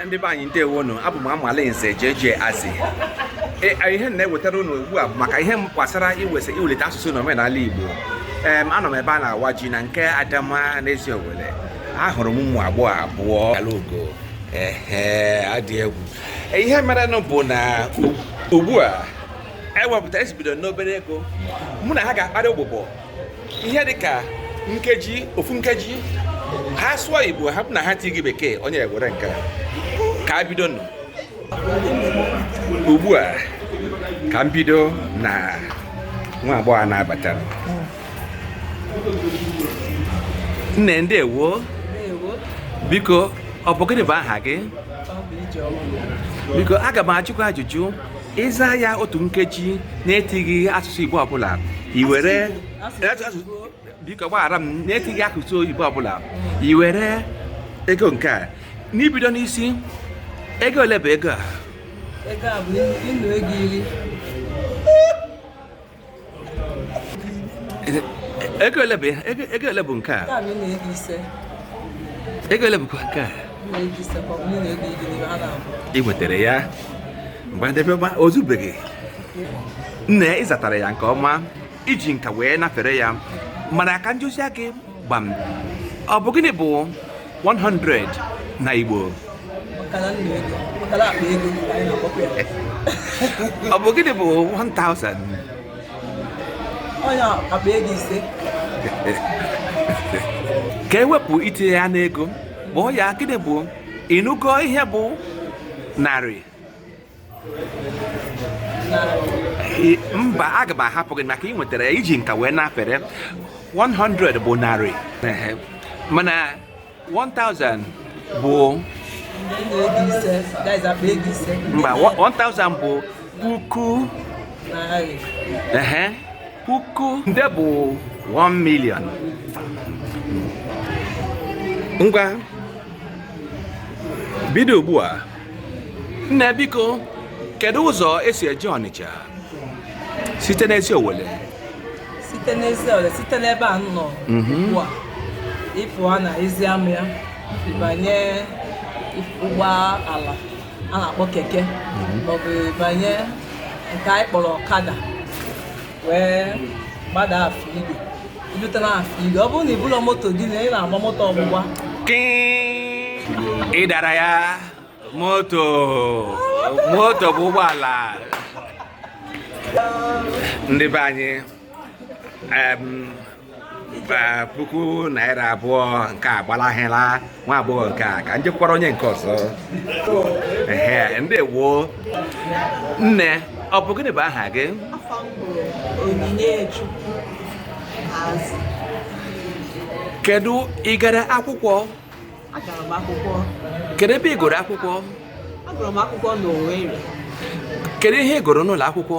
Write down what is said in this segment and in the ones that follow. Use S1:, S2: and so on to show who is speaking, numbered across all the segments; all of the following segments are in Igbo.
S1: ndị be anyị ndewo nụ abụ m amalinze JJ Azị e, e, ihe na-ewetara unu ugbu a maka ihe gbasara iwesa iwelite asụsụ na omenala Igbo anọ m ebe a na-awa ji na nke Adama n'Eziowelle ahụrụ m ụmụ agbọghọ abụọ alaogo ee adị egwu e, ihe merenụ bụ na ugbu a ewepụta e si bido n'obere ego mụ na ha ga-akparị ụbụbọ ihe dị ka nkeji ofu nkeji ha sụọ igbo ha bụ na ha tighi bekee onye ewere nke ka a bido nụ ugbu a ka m bido na nwa agbọghọ na-abata nne ndewo biko ọ bụ gịnị bụ aha gị biko aga m ajụkwa ajụjụ ịza ya otu nkeji na-etighị asụsụ Igbo ọbụla i were biko gbaghara m na-etighị asụsụ Igbo ọbụla i were ego nke a n'ibido n'isi ego ole bụ ego a ego a
S2: bụ nnu ego iri
S1: ego ole bụ ego ole bụ nke a ego ole bụkwa nke
S2: a ị nwetara
S1: ya mgbe ndebe ọma o zubeghị nne ị zatara ya nke ọma i ji nka wee nafere ya mana ka m jụzie gị gbam ọ bụ gịnị bụ 100 na Igbo ọ bụ gịnị bụ 1000
S2: onye akpa ego
S1: ise ka e wepụ itinye ya n'ego kpọọ ya gịnị bụ ị nụgo ihe bụ narị mba aga m ahapụ gị maka ị nwetara i ji nka wee nafere 100 bụ narị mana 1000 bụ mba 1000 bụ puku ehe puku nde bụ 1 million ngwa bido ugbu a nne biko kedu ụzọ e si eje ọnịcha site n'Eziowelle site
S2: n'Eziowelle site n'ebe a m nọ ugbu a ị pụọ na ezi ama ya ị banye ụgbọ ala a na-akpọ keke maọbụ ị banye nke anyị kpọrọ ọkada wee gbada afọ igwe Irute na Afọ Igwe. Ọ bụrụ na ibulu moto gị na ị na-agba moto ọgbụgba.
S1: Kịị. Ị dara ya moto moto bụ ụgbọala ndị be anyị em, eh, puku naira abụọ nke a gbalahịla nwa agbọghọ nke a ka njekwara onye nke ọzọ ehe ndewo nne ọ bụ gịnị bụ aha gị kedu ị gara
S2: akwụkwọ kedu ebe ị gụrụ
S1: akwụkwọ
S2: kedu
S1: ihe ị gụrụ n'ụlọ akwụkwọ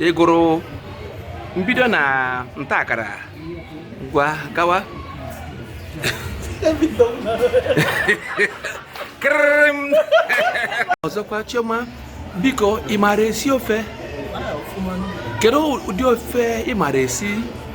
S1: ị gụrụ mbido na ntakara ngwa gawa ọzọkwa chioma biko ị maara esi ofe kedu ụdị ofe ị maara esi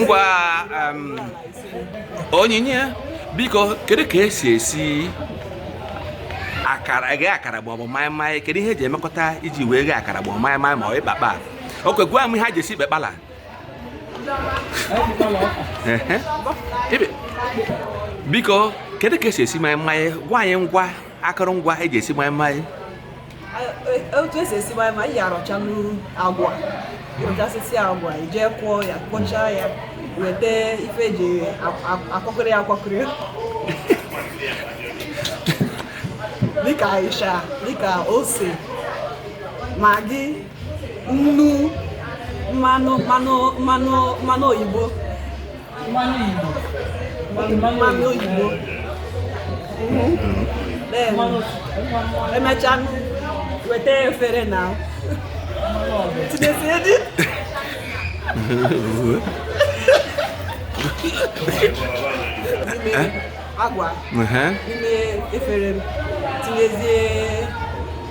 S1: ngwa um, onyinye biko kedu ka esi esi akara ghe akara bụ ọbụ maịmaị kedu ihe eji emekọta iji wee ghe akara bụ maịmaị ma ọ ịkpakpa oke gwa m ihe a ji esi ikpekpala biko kedu ka esi esi maịmaị gwa anyị ngwa akụrụngwa eji esi maịmaị
S2: otu esi esi maịmaị ya arọchanụ agwa ịrọchasịsị agwa ije kwọọ ya kwọchaa ya weta ife eji akwọkọrị ya akwọkọrị dịka ịsha dịka ose magi nnu mmanụ mmanụ oyibo mmanụ igbo mmanụ oyibo emechaa weta efere na tinyezie the agwa n'ime efere tinyezie